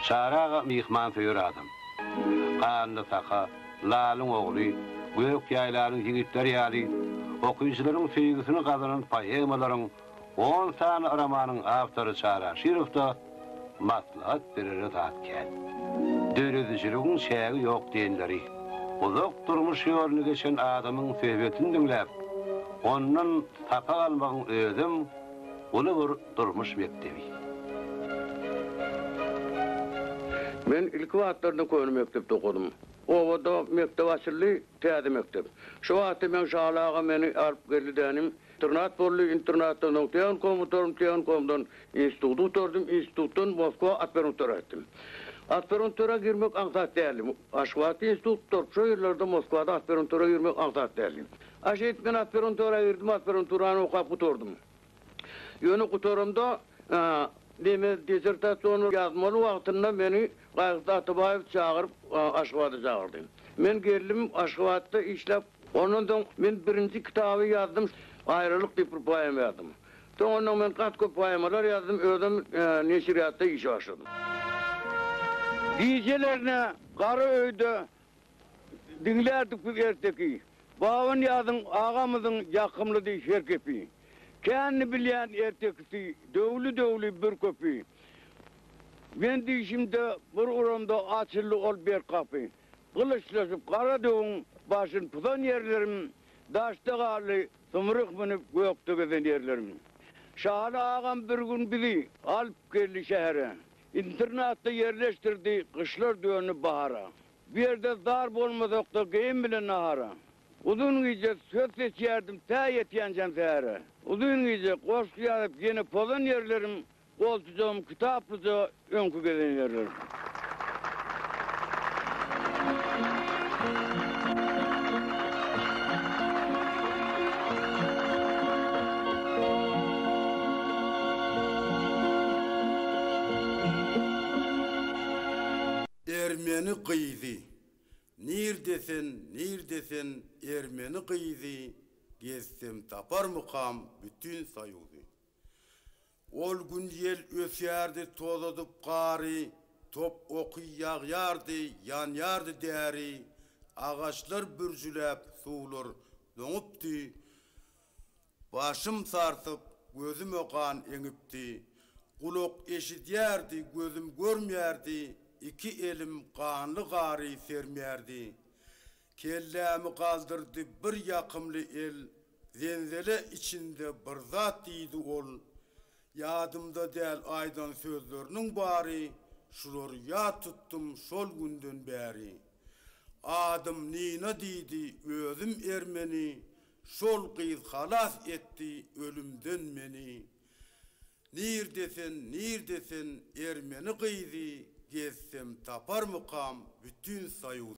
Çary aga myhmansöýer adam. Ganly saka, lalyň ogly, gök ýaýlanyň ýigitleri ýaly okyjylaryň söýgüsini gazanan poemalaryň on sany romanyň awtory Çary Aşyrow-da, Maslahat berere zat kän. Döredijiligiň çägi ýok diýenleri, uzak durmuş ýoluny geçen adamyň söhbetini diňläp, ondan sapak almagyň özem uly bir durmuş mekdebi. Men ilki wagtlarda köne mekdepde okadym. Obada mekdep açyldy, täze mekdep. Şo wagtda Meňşaly aga meni alyp geldi dänim, Internat boldy, internatdan soň tehnikumyň gutarym, tehnikumdan instituty gutardym, institutdan Moskwa aspiranturaga gitdim. Aspiranturaga girmek aňsat däldi. Aşgabatda institut gutaryp, şo ýyllarda Moskwada aspiranturaga girmek aňsat däldi. A şeýdip, men aspiranturaga girdim, aspiranturany okap gutardym. Ýöne gutaramda, deme, dissertasiýany ýazmaly wagtynda meni Gaýykda Atabaýewi çagyryp, Aşgabada çagyrdy. Men geldim, Aşgabatda işläp, ondan soň men birinji kitaby ýazdym, Aýralyk diýip bir poema ýazdym. Soňundan men gaty köp poemalar ýazdym, özüm neşirýatda işe başladym. Gijelerine gara öýde diňlärdik biz erteki, Babanyýazyň agamyzyň ýakymlydy her gepi. Känni bilýän ertekisi, döwli-döwli bir köpi, Men dişimde bir uranda açyldy ol berk gapy. Gylyçlaşyp gara döwüň başyn pudan ýerlerim, daşda galdy symryk münüp gökde gezen ýerlerim. Şaly agam bir gün bizi alyp geldi şähere. Internatda ýerleşdirdi gyşlar döndi bahara. Bu ýerde zar bolmasak-da geýim bilen nahara. Uzyn gije söz seçýärdim tä ýetýänjäm sähere. Uzyn gije goşgy ýazyp ýene pozan ýerlerim, Goltujam kitaplyja öňki gezegine ýerlendi. Ermeni gyzy, nirde sen, nirde sen, Ermeni gyzy, Gezsem taparmykam bütin Soýuzy. Ol gün ýel ösýärdi tozadyp gary, Top oky ýagýardy, ýanýardy däri, Agaçlar bürjüläp, suwlar doňupdy. Başym sarsyp, gözüme gan eňipdi. Gulak eşidýärdi, gözüm görmýärdi, Iki elim ganly gary sermýärdi. Kellämi galdyrdy bir ýakymly el, Zenzele içinde bir zat diýdi ol, Ýadymda däl aýdan sözleriniň bary, Şulary ýat tutdum şol günden bäri. Adym Nina diýdi, özüm ermeni, Şol gyz halas etdi ölümden meni. Nirde sen, nirde sen, ermeni gyzy, Gezsem taparmykam bütin Soýuzy.